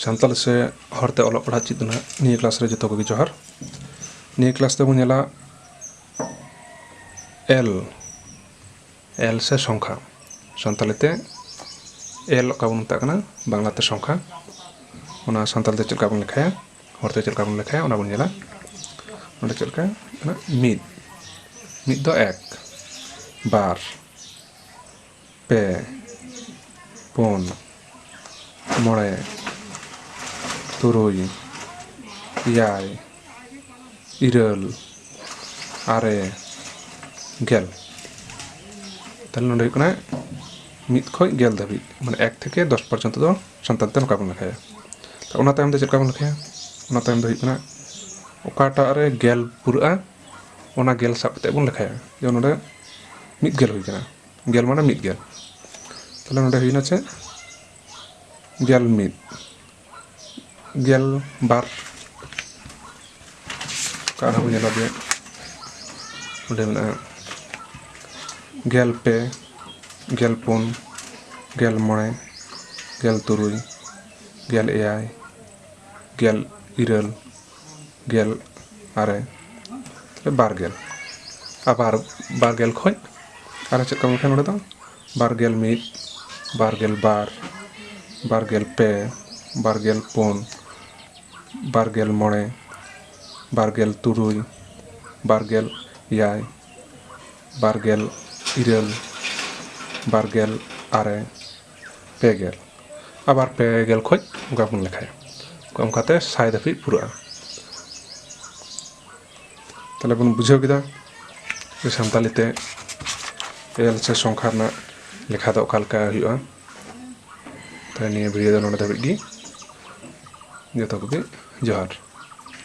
ᱥᱟᱱᱛᱟᱲᱤ ᱥᱮ ᱦᱚᱲᱛᱮ ᱚᱞᱚᱜ ᱯᱟᱲᱦᱟᱜ ᱪᱮᱫ ᱨᱮᱱᱟᱜ ᱱᱤᱭᱟᱹ ᱠᱞᱟᱥ ᱨᱮ ᱡᱚᱛᱚ ᱠᱚᱜᱮ ᱡᱚᱦᱟᱨ ᱱᱤᱭᱟᱹ ᱠᱞᱟᱥ ᱨᱮᱵᱚᱱ ᱧᱮᱞᱟ ᱮᱞ ᱮᱞ ᱥᱮ ᱥᱚᱝᱠᱷᱟ ᱥᱟᱱᱛᱟᱲᱤ ᱛᱮ ᱮᱞ ᱚᱠᱟ ᱵᱚᱱ ᱢᱮᱛᱟᱜ ᱠᱟᱱᱟ ᱵᱟᱝᱞᱟᱛᱮ ᱥᱚᱝᱠᱷᱟ ᱚᱱᱟ ᱥᱟᱱᱛᱟᱲᱤ ᱛᱮ ᱪᱮᱫ ᱞᱮᱠᱟ ᱵᱚᱱ ᱞᱮᱠᱷᱟᱭᱟ ᱦᱚᱲᱛᱮ ᱪᱮᱫ ᱞᱮᱠᱟ ᱵᱚᱱ ᱞᱮᱠᱷᱟᱭᱟ ᱚᱱᱟ ᱵᱚᱱ ᱧᱮᱞᱟ ᱚᱸᱰᱮ ᱪᱮᱫ ᱞᱮᱠᱟ ᱢᱤᱫ ᱢᱤᱫ ᱫᱚ ᱮᱠ ᱵᱟᱨ ᱯᱮ ᱯᱩᱱ ᱢᱚᱬᱮ ᱛᱩᱨᱩᱭ ᱮᱭᱟᱭ ᱤᱨᱟᱹᱞ ᱟᱨᱮ ᱜᱮᱞ ᱛᱟᱦᱚᱞᱮ ᱱᱚᱰᱮ ᱦᱩᱭᱩᱜ ᱠᱟᱱᱟ ᱢᱤᱫ ᱠᱷᱚᱡ ᱜᱮᱞ ᱫᱷᱟᱹᱵᱤᱡ ᱢᱟᱱᱮ ᱮᱠ ᱛᱷᱮᱠᱮ ᱫᱚᱥ ᱯᱚᱨᱡᱚᱱᱛᱚ ᱫᱚ ᱥᱟᱱᱛᱟᱲ ᱛᱮ ᱱᱚᱝᱠᱟ ᱵᱚᱱ ᱞᱮᱠᱷᱟᱭᱟ ᱛᱚ ᱚᱱᱟ ᱛᱟᱭᱚᱢ ᱫᱚ ᱪᱮᱫ ᱞᱮᱠᱟ ᱵᱚᱱ ᱞᱮᱠᱷᱟᱭᱟ ᱚᱱᱟ ᱛᱟᱭᱚᱢ ᱫᱚ ᱦᱩᱭᱩᱜ ᱠᱟᱱᱟ ᱚᱠᱟᱴᱟᱜ ᱨᱮ ᱜᱮᱞ ᱯᱩᱨᱟᱹᱜᱼᱟ ᱚᱱᱟ ᱜᱮᱞ ᱥᱟᱵ ᱠᱟᱛᱮᱫ ᱵᱚᱱ ᱞᱮᱠᱷᱟᱭᱟ ᱡᱮᱢᱚᱱ ᱱᱚᱰᱮ ᱢᱤᱫ ᱜᱮᱞ ᱦᱩᱭ ᱠᱟᱱᱟ ᱜᱮᱞ ᱢᱟᱱᱮ ᱢᱤᱫ ᱜᱮᱞ ᱛᱟᱦᱚᱞᱮ ᱱᱚᱰᱮ ᱦᱩᱭᱱᱟ ᱪᱮᱫ ᱜᱮᱞ ᱢᱤᱫ ᱜᱮᱞ ᱵᱟᱨ ᱟᱨ ᱦᱚᱸ ᱧᱮᱞᱟ ᱡᱮ ᱚᱸᱰᱮ ᱢᱮᱱᱟᱜᱼᱟ ᱜᱮᱞ ᱯᱮ ᱜᱮᱞ ᱯᱩᱱ ᱜᱮᱞ ᱢᱚᱬᱮ ᱜᱮᱞ ᱛᱩᱨᱩᱭ ᱜᱮᱞ ᱮᱭᱟᱭ ᱜᱮᱞ ᱤᱨᱟᱹᱞ ᱜᱮᱞ ᱟᱨᱮ ᱵᱟᱨ ᱜᱮᱞ ᱟᱵᱟᱨ ᱵᱟᱨ ᱜᱮᱞ ᱠᱷᱚᱡ ᱟᱨᱚ ᱪᱮᱫ ᱠᱚ ᱢᱮᱱᱠᱷᱟᱱ ᱱᱚᱸᱰᱮ ᱫᱚ ᱵᱟᱨ ᱜᱮᱞ ᱢᱤᱫ ᱵᱟᱨ ᱜᱮᱞ ᱵᱟᱨ ᱵᱟᱨ ᱜᱮᱞ ᱯᱮ ᱵᱟᱨ ᱜᱮᱞ ᱯᱩᱱ ᱵᱟᱨ ᱜᱮᱞ ᱢᱚᱬᱮ ᱵᱟᱨ ᱜᱮᱞ ᱛᱩᱨᱩᱭ ᱵᱟᱨ ᱜᱮᱞ ᱮᱭᱟᱭ ᱵᱟᱨ ᱜᱮᱞ ᱤᱨᱟᱹᱞ ᱵᱟᱨ ᱜᱮᱞ ᱟᱨᱮ ᱯᱮᱜᱮᱞ ᱟᱵᱟᱨ ᱯᱮᱜᱮᱞ ᱠᱷᱚᱡ ᱚᱱᱠᱟ ᱵᱚᱱ ᱞᱮᱠᱷᱟᱭᱟ ᱚᱱᱠᱟᱛᱮ ᱥᱟᱭ ᱫᱷᱟᱹᱵᱤᱡ ᱯᱩᱨᱟᱹᱜᱼᱟ ᱛᱟᱦᱞᱮ ᱵᱚᱱ ᱵᱩᱡᱷᱟᱹᱣ ᱠᱮᱫᱟ ᱡᱮ ᱥᱟᱱᱛᱟᱞᱤ ᱛᱮ ᱮᱞ ᱥᱮ ᱥᱚᱝᱠᱷᱟ ᱨᱮᱱᱟᱜ ᱞᱮᱠᱷᱟ ᱫᱚ ᱚᱠᱟ ᱞᱮᱠᱟ ᱦᱩᱭᱩᱜᱼᱟ ᱛᱟᱦᱞᱮ ᱱᱤᱭᱟᱹ ᱵᱷᱤᱰᱤᱭᱳ ᱫᱚ ᱱᱚᱰᱮ ᱫᱷᱟᱹᱵᱤᱡ ᱜᱮ ᱡᱚᱛᱚ ᱠᱚᱜᱮ ᱡᱚᱦᱟᱨ